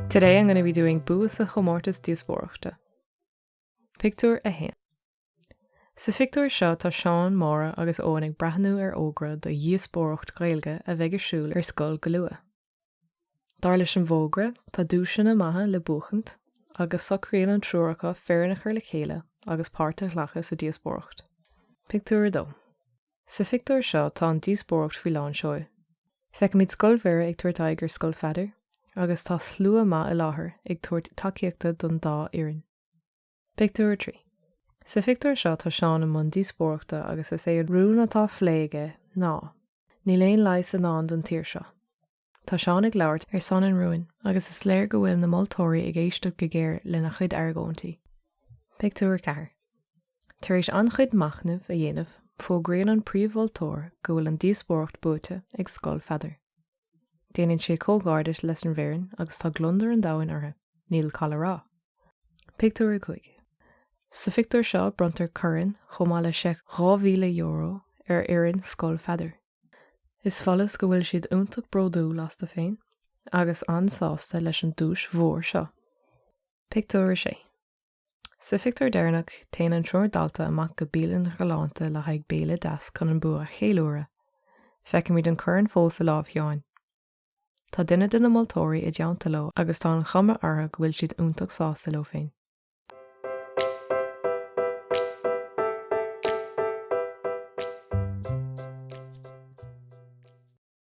Today I'm going to be doing bua sa chomórtas díospóireachta. Pictiúr 1. Sa phictiúr seo tá Seán, Máire agus Eoin ag breathnú ar fhógra do dhíospóireacht Ghaeilge a bheidh ar siúl ar scoil go luath. Dar leis an bhfógra, tá duaiseanna maithe le buachaint agus socraíonn an triúr acu foireann a chur le chéile agus páirt a ghlacadh sa díospóireacht. Pictiúr 2 Sa phictiúr seo tá an díospóireacht faoi lán seoil. Feicimid Scoil Mhuire ag tabhairt aghaidh ar Scoil Pheadair agus tá slua maith i láthair ag tabhairt tacaíochta don dá fhoireann. Pictiúr 3 Sa phictiúr seo tá Seán i mbun díospóireachta agus is é an rún atá á phlé aige ná, Níl aon leigheas i ndán don tír seo. Tá Seán ag labhairt ar son an rúin agus is léir go bhfuil na moltóirí ag éisteacht go géar lena chuid argóintí. Pictiúr 4 Tar éis an-chuid machnaimh a dhéanamh, fógraíonn an príomh-mholtóir go bhfuil an díospóireacht buaite ag Scoil Pheadair. Déanann sé comhghairdis leis an bhfoireann agus tá gliondar an domhain orthu, níl call a rá. Pictiúr 5. Sa phictiúr seo bronntar corn chomh maith le seic €2,000 ar fhoireann Scoil Pheadair. Is follas go bhfuil siad iontach bródúil astu féin agus an-sásta leis an duais mhór seo. Pictiúr 6. Sa phictiúr deireanach, téann an triúr dalta amach go bialann ghalánta le haghaidh béile deas chun an bua a cheiliúradh. Feicimid an corn fós i lámh Sheáin. Tá duine de na moltóirí i dteannta leo agus tá an chuma orthu go bhfuil siad iontach sásta leo féin.